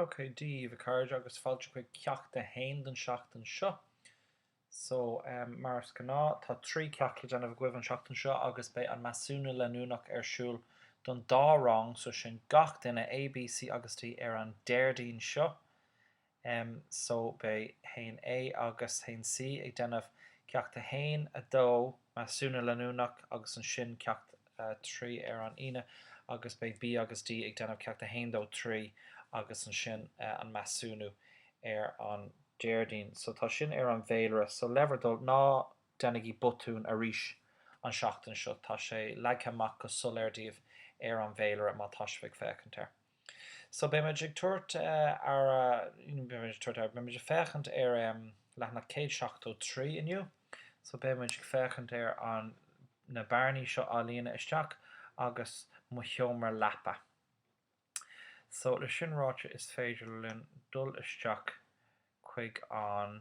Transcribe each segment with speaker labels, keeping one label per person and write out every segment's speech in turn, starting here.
Speaker 1: Ok Dia daoibh a chairde agus fáilte chuig ceacht a haon den tseachtain seo. So em mar is gnáth tá trí ceacht le déanamh agaibh an tseachtain seo agus beidh an measúnú leanúnach ar siúl don dá rang so sin gach duine A, B, C agus D ar an Déardaoin seo em so beidh haon A agus haon C ag déanamh Ceacht 1, 2, Measúnú Leanúnach agus ansin Ceacht 3 ar an Aoine agus beidh B agus D ag déanamh Ceacht 1, 2, 3 agus ansin an measúnú ar an Déardaoin. So tá sin ar an bhféilire. So le bhur dtoil, ná déanaigí botún arís an tseachtain seo, tá sé leagtha amach go soiléir daoibh ar an bhféilire má tá sibh ag féachaint air. So beidh muid ag tabhairt ar, you know, beidh muid ag tabhairt aird, beidh muid ag féachaint ar em leathanach céad seachtó trí inniu, so beidh muid ag féachaint ar an na bearnaí seo a líonadh isteach agus mo sheomra leapa. So leis sin ráite is féidir linn dul isteach chuig an.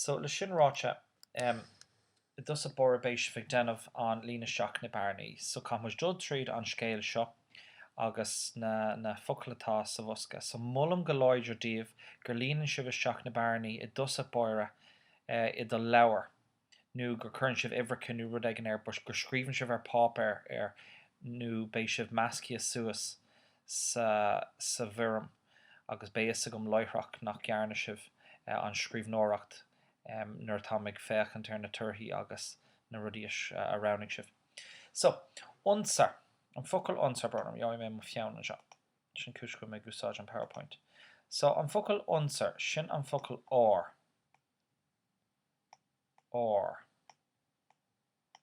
Speaker 1: So, leis sin ráite, em, i dtús báire beidh sibh ag déanamh an líon isteach na bearnaí. So, caithfidh muid dul tríd an scéal seo agus na, na focail atá sa bhosca. So, molaim go láidir daoibh gur líonann sibh isteach na bearnaí i dtús báire, eh, i do leabhar. nó gur cuireann sibh uimhreacha nó rud éigin air but gur scríobhann sibh ar páipéar nó beidh sibh measctha suas sa bhfoirm agus beidh fhios agam láithreach nach ndearna sibh an scríbhneoireacht nuair atá mé ag féachaint ar na torthaí agus na rudaí a roghnaigh sibh. So, unser, an focal unser, brón orm, gheobhaidh mé mo pheann anseo, sin cúis go bhfuil mé ag úsáid an PowerPoint. So, an focal unser, sin an focal ár. or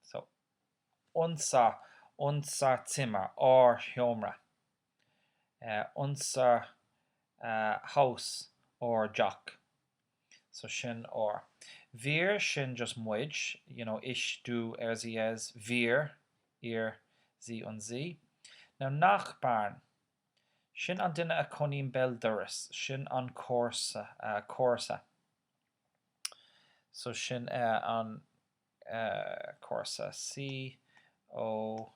Speaker 1: so unsa unsa zimmer ár sheomra eh unser eh haus ár dteach so sin ár wir sin just muid you know ich du er sie es wir ihr sie und sie now nachbarn sin an duine a chónaíonn béal dorais sin an comharsa eh comharsa So sin é an comharsa COMH,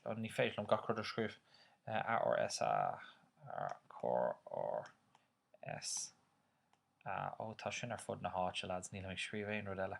Speaker 1: oh ní féidir liom gach rud a scríobh, ARSA, ARRSA, oh tá sin ar fud na háite lads, nílim ag scríobh aon rud eile.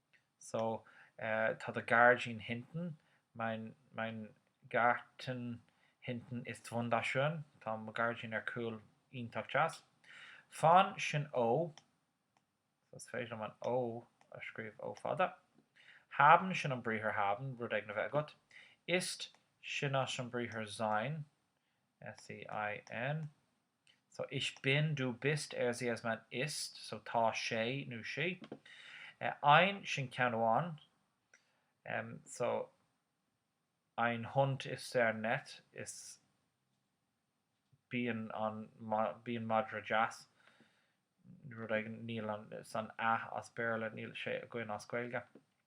Speaker 1: so tá do gairdín hinten, mein mein Garten hinten ist wunderschön, tá mo gairdín ar cúl iontach deas. Von sin ó, so is féidir liom an ó a scríobh ó fada. Haben sin an briathar haben, rud éigin a bheith agat. Ist sin as an briathar sein, S-E-I-N. so ich bin, du bist, er sie es man ist so tá sé nó sí ein sin ceann amháin em so ein Hund ist sehr nett ist bíonn an bíonn madra deas rud éigin níl an a as Béarla níl sé againn as Gaeilge.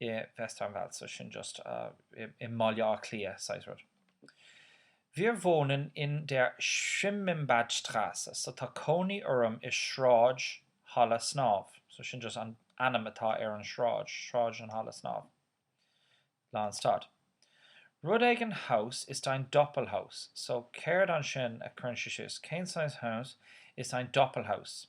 Speaker 1: i Westernwald, so sin just i mBaile Átha Cliath saghas rud. Wir wohnen in der Schwimmbadstrasse, so tá cónaí orm i Sráid Halla Snámha, so sin just an ainm atá ar an sráid, Sráid an Halla Snámha. Lán stad. Rud éigin Haus ist ein Doppelhaus, so céard ansin a cuireann sé síos, cén saghas Haus ist ein Doppelhaus?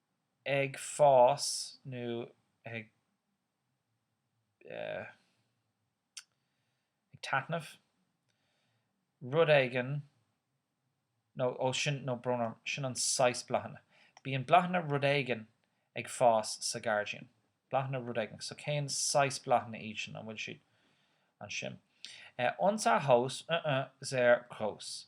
Speaker 1: ag fás nó ag eh. ag taitneamh, rud éigin nó ó sin nó bronnann, sin an saghas bláthanna. Bíonn bláthanna rud éigin ag fás sa ghairdín. Bláthanna rud éigin. So cén saghas bláthanna iad sin, an bhfuil siad ansin? Eh, unser Haus, uh-uh, sehr gross.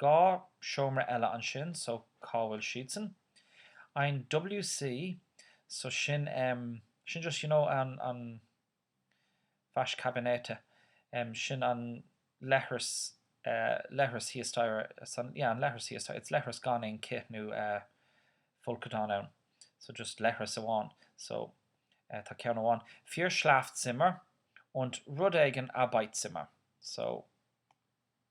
Speaker 1: Dhá seomra eile ansin so cá bhfuil siadsan? Ein WC so sin ehm sin just you know an an Waschkabinette ehm sin an leithreas eh leithreas thíos staighre san yeah an leithreas thíos staighre it's leithreas gan aon cith nó eh folcadán ann so just leithreas amháin so eh tá ceann amháin vier Schlafzimmer und rud éigin Arbeitszimmer so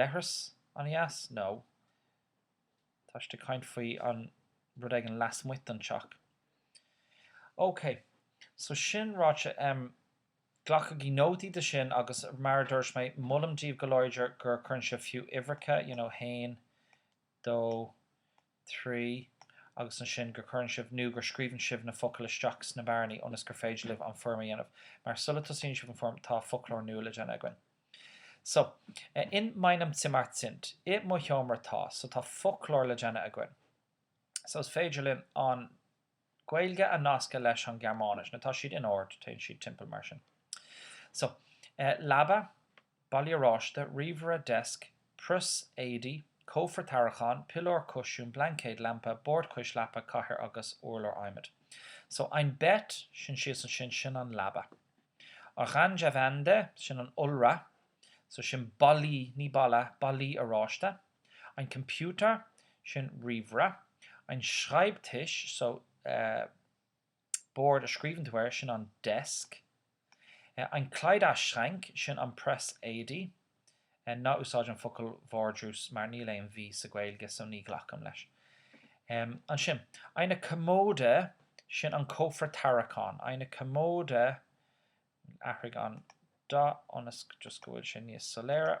Speaker 1: leithreas an-dheas nó tá siad ag caint faoi an rud éigin lasmuigh den teach. Ok, so sin ráite, em, glacaigí nótaí de sin agus mar a dúirt mé, molaim díbh go láidir gur cuireann sibh fiú uimhreacha, you know, haon, dó, trí, agus ansin gur cuireann sibh nó gur scríobhann sibh na focail isteach sna bearnaí ionas gur féidir libh an foirm a dhéanamh. Mar, sula tosaíonn sibh an foirm, tá foclóir nua le déanamh againn. So, in meinem Zimmer sind, i mo sheomra tá. So, tá foclóir le déanamh againn. So, is féidir linn an. Gaeilge a nascadh leis an Ghearmáinis, mar tá siad in ord, téann siad timpeall mar sin. So, eh, leaba, ballaí oráiste, ríomhaire, desk, prios, éadaí, cófra tarraiceáin, piliúr, cúisín, blaincéad, lampa, bord cois leapa, cathaoir agus urlár adhmaid. So, ein Bett, sin síos ansin, sin an leaba. Orange Wände, sin an iolra. So, sin ballaí, ní balla, ballaí oráiste. Ein Computer, sin ríomhaire. Ein Schreibtisch, so, bord a scríobhann tú air, sin an desk. Ein Kleiderschrank, sin an press éadaí. Ná úsáid an focal vardrús mar níl aon V sa Ghaeilge so ní ghlacaim leis. Ansin, eine Kommode, sin an cófra tarraiceáin. Eine Kommode, athraigh an dath ionas just go bhfuil sé níos soiléire.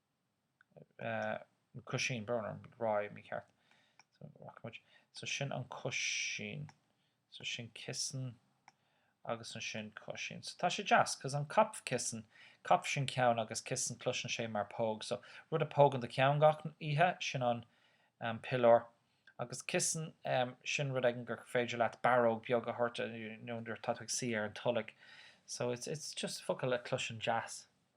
Speaker 1: Cúisín, brón orm, rá mícheart. So sin an cúisín. So sin Kissen agus ansin cúisín. So tá sé deas, cos an Kopfkissen, Kopf sin ceann agus Kissen cloiseann sé mar póg. So rud a pógann do cheann gach oíche, sin an piliúr. Agus Kissen, sin rud éigin gur féidir leat barróg bheag a thabhairt nuair atá tú ag suí ar an tolg. So it's just focal a chloiseann deas.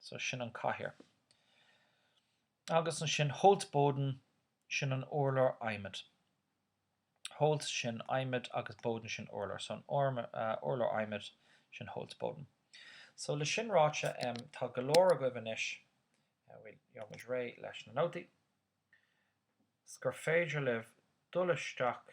Speaker 1: So sin an cathaoir. Agus ansin Holzboden sin an urlár adhmaid. Holz sin adhmad agus Boden sin urlár. So an urlár adhmaid sin Holzboden. So le sin ráite em tá go leor agaibh anois, bhuel gheobhaimid réidh leis na nótaí, 's gur féidir libh dul isteach.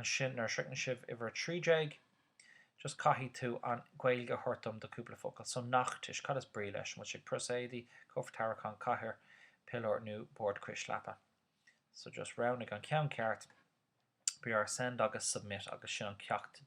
Speaker 1: ansin nuair a shroicheann sibh uimhir a trí déag just caithfidh tú an Gaeilge a thabhairt dom do cúpla focal so Nachttisch cad is brí leis an bhfuil sé prios éadaí, cófra tarraiceán cathaoir piliúr nó bord cois leapa so just roghnaigh an ceann ceart brúigh ar send agus submit agus sin an ceacht